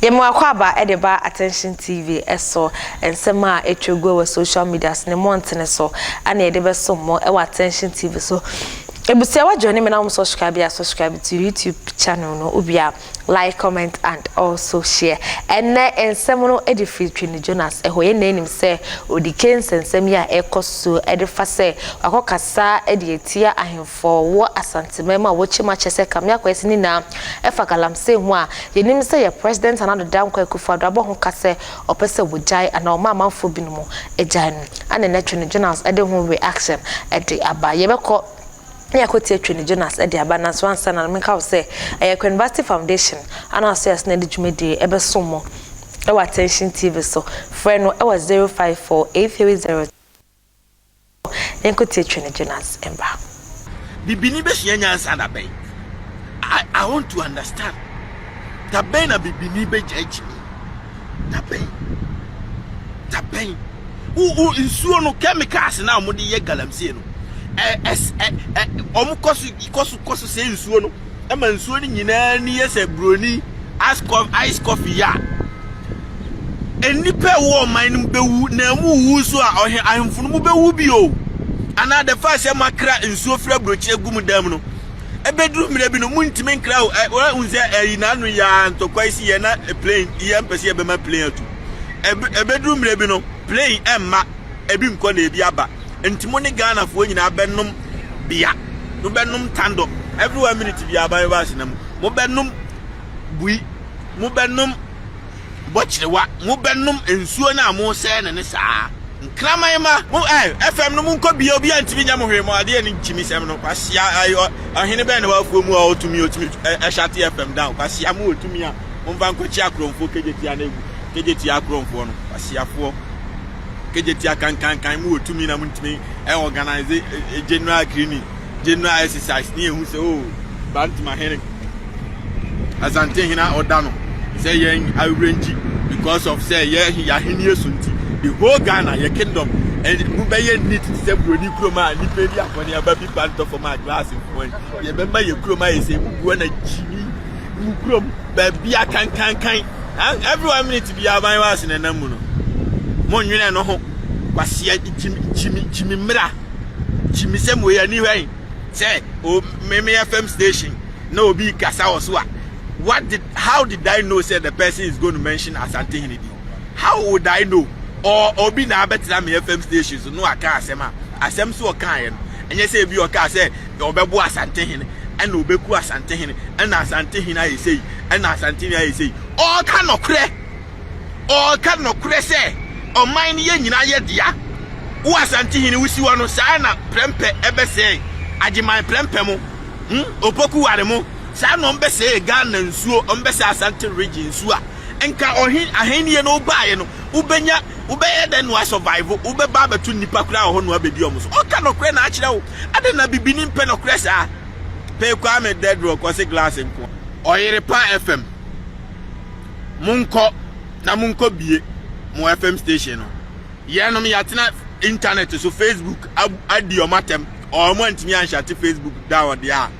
yɛma akwaaba de ba attention tv so nsɛm a atwa gu wɔ social media so ne mmɔntene so ana yɛde bɛso mo wɔ attention tv so ebusuawa join me na wɔn subscribe a subscribe to youtube channel no obia Like comment and also share ɛnɛ nsɛm no de firi Twene Jonas hɔ. Yɛn nyinaa nim sɛ odike nsɛnsɛm yi a ɛkɔ so de fa sɛ wakɔ kasa de atia ahemfo wɔ Asanteman mu a wɔkyim akyɛ sɛ Kamea Kwesi ne nyinaa ɛfa galamsey ho a yɛnim sɛ yɛ President Nana Addo Dankwa Akufo Addo abɔ ho ka sɛ ɔpɛ sɛ wɔgyae anaa ɔma amanfoɔ binom gyae no ɛna ɛnɛ Twene Jonas de ho reaction de aba. Yɛbɛkɔ ne akwati atwa ne Jonas de aba nanso ansa na menka wo sɛ ɛyɛ Kwame Bassey Foundation a na ɔsɛ asena de dwumadie ɛbɛsom mo ɛwɔ Attention TV so frɛ no ɛwɔ 054830 yɛnkɔtie twa ne Jonas mba. Bibini bɛsua nyansa da bɛn? I want to understand. Da bɛn na bibini bɛgyae gyimi? Dabɛn. Dabɛn. Wo wo nsuo no chemicals na wɔn de yɛ galamsey no. Ɛ ɛs ɛ ɛ wɔn kɔ so kɔ so kɔ so sɛ nsuo no. Ɛma nsuo no nyinaa ni yɛ sɛ broni ice coffee ice coffee yɛ a. Nnipa a ɛwɔ ɔman no mu bɛwu na wɔn rewu nso a ɔhe ahemfo no mo bɛwu bi o. Anaa the fact sɛ mo akra nsuo firi abrokyire agu mo dan mu no. Ebeduru mmerɛ bi no, montumi nkra o. Woahu sɛ ɛyi n'ano yi ara ntɔkwa yi si yɛ na plane yɛ mpɛ sɛ yɛbɛma plane atu. Ebeduru mmerɛ bi no, plane ɛmma ebi nkɔ na ebi aba. Nti mo ne Ghanafoɔ nyinaa bɛnom bea. Mobɛnom tandɔ every one minute biara aban bɛba asena mu. Mobɛnom bui. Mobɛnom. Bɔkyerewa, mo bɛ nom nsuo no a mo sɛɛ no ne saa. Nkraman mma, mo ɛɛ ɛfɛm no mo nkɔ bia obia ntumi nyɛ mo hwee mo adeɛ ne nkyimmisɛm no kwasia ai ɔ ɔhene bɛn na wɔ afuo mu a ɔwɔ tumi ɔtumi ɛ ɛhyate ɛfɛm down kwasia mo wɔ tumi a mo mfa nkɔ kyi akorɔmfoɔ kegye tia no agu kegye tia akorɔmfoɔ no kwasiafoɔ kegye tia kankankan mo wɔ tumi na mo ntumi ɛ organize ɛ ɛ general cleaning general exercise ne ehu sɛ oh bantama hene asante hene a ɔda no sɛ yɛn awerɛ ngyi because of sɛ yɛ yɛahenni so nti the whole ghana yɛ kingdom mu bɛyɛ neat te sɛ buroni kurom a nnipa bi akɔne aba bi ba ntɔ fam a glass nkoan yɛbɛma yɛ kurom ayɛ sɛ mu guo na gyini mu kurom baabi akankankan every one minute bi aban wɔ ase na nam mu no mo nwene no ho kwaseɛ gyimi gyimi gyimi mmira kyimisɛm wei ani hwɛ sɛ o oh, meme fm station na obi kasa wɔ so a what did how did i know say the person is going to mention asante hene bi how would i know or obi na abɛtena me fm station so no aka asɛm a asɛm so ɔkaeɛ no ɛnyɛ sɛ ebi ɔkaa sɛ ɔbɛbo asante hene ɛna ɔbɛku asante hene ɛna asante hene ayɛ sɛ yi ɛna asante hene ayɛ sɛ yi ɔka nɔkorɛ Ɔɔka nɔkorɛ sɛ ɔman no yɛ nyinaa yɛ dea. Wo Asante hene wo si hɔ no saa na prɛmpɛ ɛbɛsɛe Agyeman prɛmpɛ mo hmm Opoku ware mo saa na ɔmbɛsɛe Ghana nsuo ɔmbɛsɛe Asante region nsuo a nka ɔhe ahennie no wo baeɛ no wo bɛnya wo bɛyɛ dɛn na wa survive wo bɛba abɛto nnipa koraa wɔ hɔ na wabɛdi ɔmo so ɔka nɔkorɛ na akyerɛ wo adɛn na bibini mpɛ nɔkorɛ saa pɛ Kwame Dedrock ɔse glass nko Ɔyere pa FM. monkɔ na monkɔ bie mo fm station no yɛnom yɛatena internet so facebook adi ɔm atɛm ɔm antumi anhyɛte facebook da ɔde a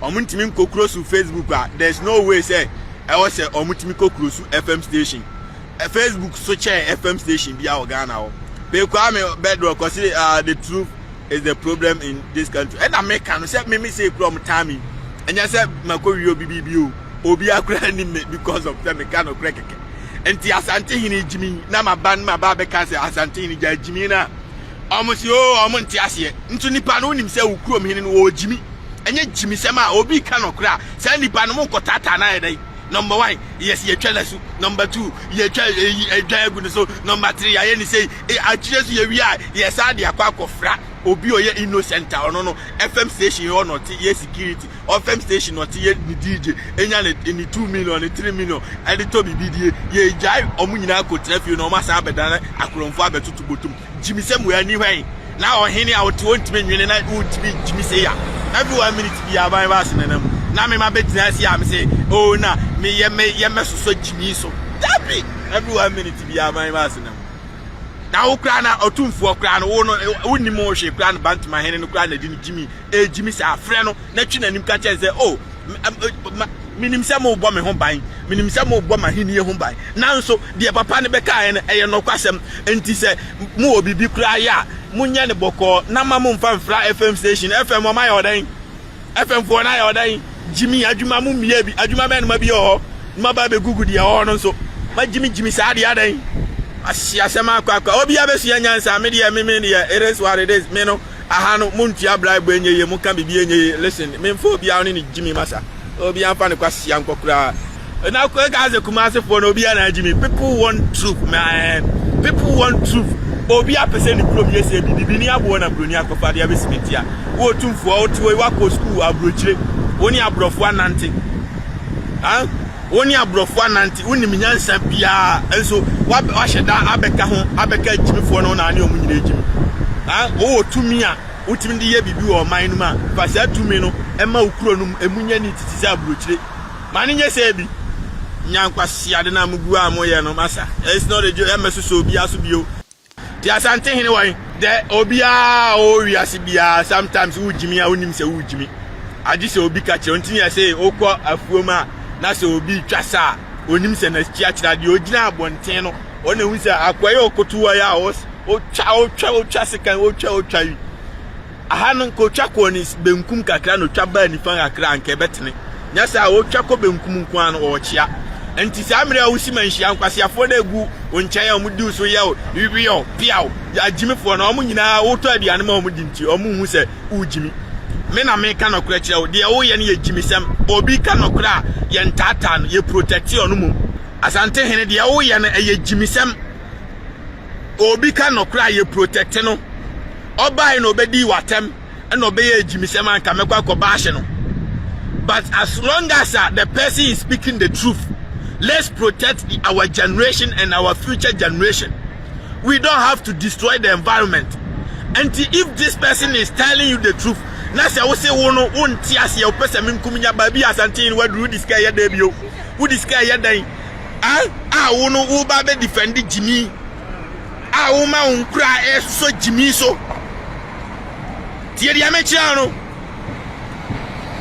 ɔm ntumi nkɔkuro so facebook a there's no way sɛ ɛwɔ sɛ ɔm tumi kɔkuro so fm station facebook so kyɛɛ fm station bi a wɔ ghana hɔ pekwaa me bɛdrɔ kɔse uh, the truth is the problem in this country ɛna meka no sɛ meme sɛ kura ɔm taa me ɛnyɛ sɛ makɔwie obi biribi o obiara koraa nim me because of sɛ meka nokorɛ kɛkɛ nti asante hene gyimi na maba no maba bɛka sɛ asante hene gya gyimi no a ɔmo se o oh, ɔmo nte aseɛ nso nipa no wonim sɛ wo kurom hene no wɔ gyimi ɛnyɛ gyimisɛm a obi ka nokorɛ a saa nipa no mo nkɔtaataa no ayɛ dɛn number one yes yɛtwa no asu number two yɛtwa eyi adwa agu no so number three yɛayɛ ne sei e, akyire so yɛwie a yɛsaa de akɔ akɔfra obi ɔyɛ innocent a ɔno no fm station yɛ ɔnɔte yɛ security ɔfam station ɔte yɛ ne dj enya ne ne two million ne three million ɛde tɔ biribi die yɛ egyae ɔmo nyinaa kɔ tena fie na ɔmo asan abɛdan akorɔmfo abɛtoto bɔtɔm gyimisɛm wɔ ani hwɛn na ɔhene a ɔte ɔntumi nwene na ɔntumi gyimisɛ ya every one minute bi aban ba ase nanam na mema bɛgyina ase a me sɛ o oh, na meyɛ me yɛ mɛsosɔ gyimi so dabi every one minute bi aban ba ase nanam na wo koraa na ɔtumfoɔ koraa no wo no wonim wo hwee koraa no bantama hene no koraa na ɛde no gyimi Gyimi saa, frɛ no na twe n'anim ka kyerɛ no sɛ, 'O, minim sɛ morebɔ me ho ban, minim sɛ morebɔ m'ahenni ho ban, nanso deɛ papa no bɛkaeɛ no, ɛyɛ nokwasɛm. Enti sɛ mowɔ biribi koraa yɛ a, monyɛ no bɔkɔɔ, na mma mommfa mmfra FM station. FM, wɔayɛ wo dɛn? FM foɔ no ayɛ wo dɛn? Gyimi, adwuma mommiaa bi, adwuma bɛn na mabie wɔ hɔ? Na maba abɛgugu deɛ ɛwɔ hɔ no nso. Ma Gyimi, Gyimi saa deɛ adɛn? Wɔahye asɛm akɔ akɔ a, obiara bɛsua nyansa, me deɛ, me, me deɛ, it is what it is, me no. Aha no mo ntua bribe ɛnyɛ yie mo ka biribi ɛnyɛ yie listen me nfa obiara ne ne gyimi masa obiara nfa ne kwasia nkɔ koraa na kɔ ɛka sɛ kumase foɔ na obiara na gyimi people want truth man people want truth obi apɛ sɛ ne kurom yɛ sɛ bibi bi ne aboɔ na buroni akɔfa de abɛsi me tia wo otumfoɔ wote wɔ wakɔ sukuu aburokyire wo ne aborɔfoɔ anante ah Wo ne aborɔfo anante, wonim nyansa biara, nso woahyɛ da abɛka ho abɛka agyimifoɔ no ho na ane wɔn nyina agyimi. Wowɔ tumi a wotumi de yɛ biribi wɔ ɔman no mu a, fa saa tumi no ma wo kuro no mu, ɛmu nyɛ neat te sɛ aburokyire. Ma no nyɛ sɛ bi. Nya nkwaseade no a mogu a moyɛ no, masa. It's not a joke, ɛmmɛsosɔ obiara so bio. Te Asante hene wɔn dɛ obiara a ɔwɔ wiase biara sometimes wo gyimi a wonim sɛ wo gyimi agye sɛ obi ka kyerɛ nti yɛ sɛ wokɔ afuom a na sɛ obi twa sa a onim sɛ n'akyi akyerɛ adeɛ ogyina abɔnten no ɔna hu sɛ akwai ɔkoto wɔ yɛ a wotwa wotwa wotwa sekan wotwa wotwa yi Aha no, nka otwa kɔɔ ne benkum kakra na otwa baa nifa kakra a, anka ɛbɛtene. Nyɛ saa a, otwa kɔ benkum nko ara no, ɔrekyea. Enti saa mmere a wusi ma nhyia nkwaseafoɔ no a egu wo nkyɛn a wɔdi wo so yɛ wo weɔɔ, peaw, agyimifoɔ no, wɔn nyinaa wotɔ aduane ma wɔn di nti, wɔnhu sɛ wogyimi. Me na meka nɔkorɛ kyerɛ wo, deɛ woyɛ no yɛ gyimisɛm. Obi reka nɔkorɛ a, yɛntaataa no, yɛprotɛte ɔno mmom. Asantehene, deɛ woyɛ no, ɛyɛ gyimisɛm. obi ka nɔkorɛ a yɛ protect no ɔbae na ɔbɛdii w'atɛm ɛna ɔbɛyɛ agyimisɛm a nka mɛkɔ akɔ baahye no but as long as uh, the person is speaking the truth let's protect the, our generation and our future generation we don't have to destroy the environment and if this person is telling you the truth na sɛ wo se wo no wonte aseɛ wopɛ sɛ menkum nya baabi asante no waduru wode sika ɛyɛ dɛn bio wode sika ɛyɛ dɛn Ahh a wo no wo ba bɛ defend gyimi a wo ma wo nkura ɛsosɔ gyimi so tie deɛ mekyerɛ no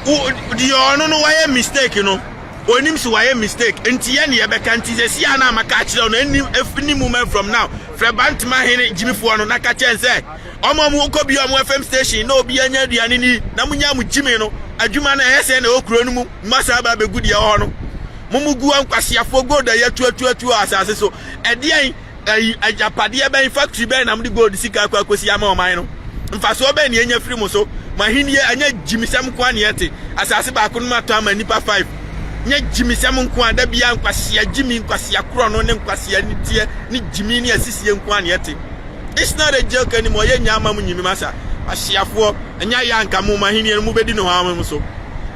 wo deɛ ɔno no wayɛ mistake no onim si wayɛ mistake nti yɛ ne yɛbɛka nti sɛ si a na amaka akyerɛ no ɛni ɛfini mu man from now frɛ bantama hene gyimifoɔ no na ka kyɛn sɛ ɔmo ɔmo kɔ bi ɔmo fm station na obi anya aduane ni na mo nya mo gyimi no adwuma no ɛyɛ sɛ na ɛwɔ kuro no mu mma saa ba bɛgu deɛ ɛwɔ hɔ no mo mo gu ankwaseafoɔ gold a yɛatuatuatuo asase so ɛdeɛn ayi agyapadeɛ bɛn factory bɛn na mode gold sika akɔ akɔsi ama ɔman no mfasoɔ bɛn ne ɛnya firi mo so mo ahenniɛ ɛnyɛ gyimisɛm nko a ne ɛte asase baako no matɔ ama nnipa five nyɛ gyimisɛm nko a da biara nkwasea gyimi nkwasea korɔ no ne nkwasea niteɛ ne gyimi ne asisie nko a ne ɛte This not a joke anymore yɛ nya ama mo nyimim asa asiafoɔ ɛnya yɛ anka mo mo ahenniɛ no mo bɛdi no hɔ mo so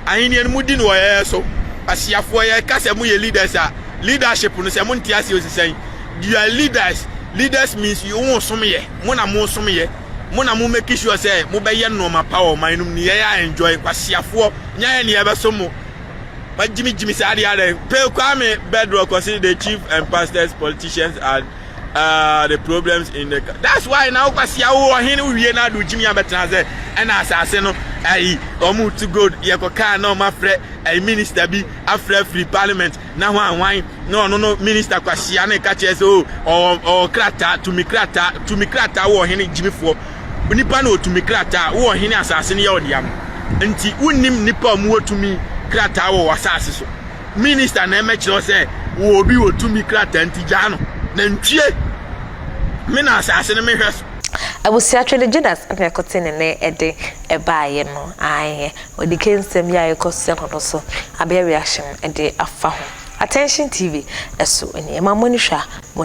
ahenniɛ no mo di no wɔ yɛyɛ so asiafoɔ yɛ ka sɛ mo yɛ leaders a leadership no sɛ mo nte aseɛ osisan you are leaders leaders means you wo som yɛ mo na mo som yɛ mo na mo make sure sɛ mo bɛyɛ nneɛma pa wɔ ɔman no mu ne yɛyɛ a enjoy kwasiafoɔ nya yɛ ne yɛbɛso mo ma gyimi gyimi saa adeɛ adɛn pay kwame bedrock ɔse the chief and pastors politicians are Ah the problems in the that's why na wokwasia wo ɔhen wowie na ade gyimi abɛtena sɛ ɛna asase no ayi ɔmo to gold yɛkɔ kaa na ɔmo afrɛ ayi minister bi afrɛ firi parliament na ho anwan na ɔno no minister kwasia na ɛka kyerɛ sɛ o oh, ɔwɔ ɔwɔ krataa tumi krataa tumi krataa wo ɔhen gyimifoɔ nipa na ɔtumi krataa wo ɔhen asase no yɛ ɔde ama nti wonim nipa a ɔmo wɔ tumi krataa wɔ wɔ asase so minister na ɛmɛkyerɛ wo sɛ wɔ obi wɔ tumi krataa nti gyaa no na ntwie me na asase no mehwɛ so. Abusua twe ne Judas na ɛkɔte ne nɛ ɛde ɛbaeɛ no aeɛ ɔdi ke nsɛm yi a ɛkɔ so ɛno no so abɛyɛ reaction ɛde afa ho Attention TV ɛso ɛni ɛma mo ani hwɛ a mo